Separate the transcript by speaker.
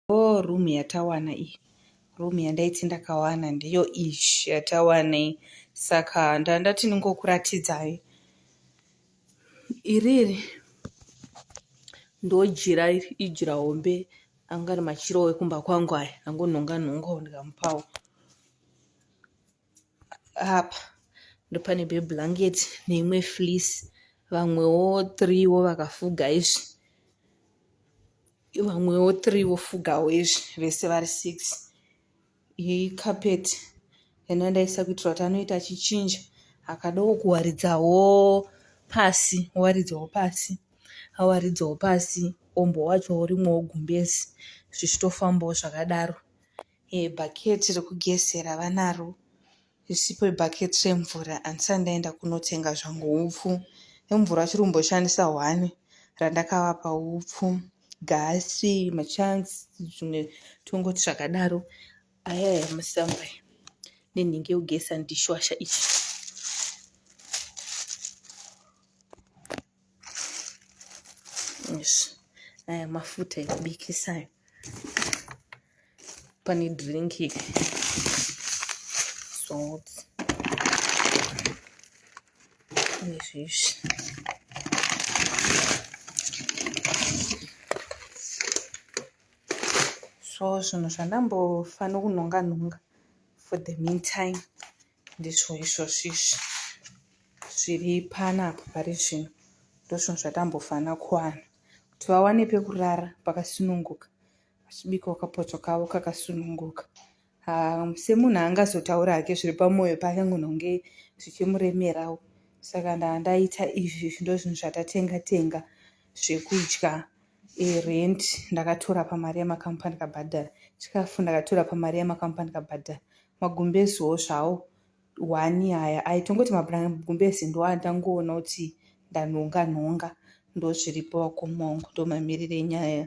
Speaker 1: Hoo room yatawana iyi. Room yandaiti ndakawana ndiyo iyi yatawana iyi saka ndandati ndingokuratidzai. Iri iri ndojira iri ijira hombe anga ari machira ekumba kwangu aya angonhonga nhongawo ndikamupawo. apa ndopane beblanket neimwe fleece vamwewo three wo vakafuga izvi vamwewo three vofugawo izvi vese vari six iyi carpet yandanga ndaisa kuitira kuti anoita achichinja akadowo kuwaridzawo pasi owaridzawo pasi awaridzawo pasi ombo wacho urimwo wogumbezi zvichitofambawo zvakadaro Eh, bhaketi rekugezera vanaro isipo ibhaketi remvura handisati ndaenda kunotenga zvangu upfu nemvura achiri kumboshandisa hwani randakavapa upfu gasi machance zvimwe tongoti zvakadaro aya yamusamba nenhingi yekugeza ndishwasha ichi yes. aya mafuta ekubikisa ayo pane drink salt nezvizvi so zvinhu zvandambofanira kunhonga nhonga for the meantime ndizvo izvozvo izvi zviri panapa pari zvino ndozvinhu zvatambofana kuwana kuti vawane pekurara pakasununguka vachibikawo kapoto kavo kakasununguka um, semunhu angazotaura hake zviri pamwoyo pake ngunonge zvichimuremerawo saka ndandaita izvi ndo zvinhu zvatatenga tenga zvekudya erent ndakatora pamari yemakampani kabhadhara chikafu ndakatora pamari yemakampani kabhadhara Magumbezoo zvawo wani aya aitongoti magumbezi ndiwo andangoona kuti ndanhonga nhonga ndozviripo vakoma wangu ndomamirire nyaya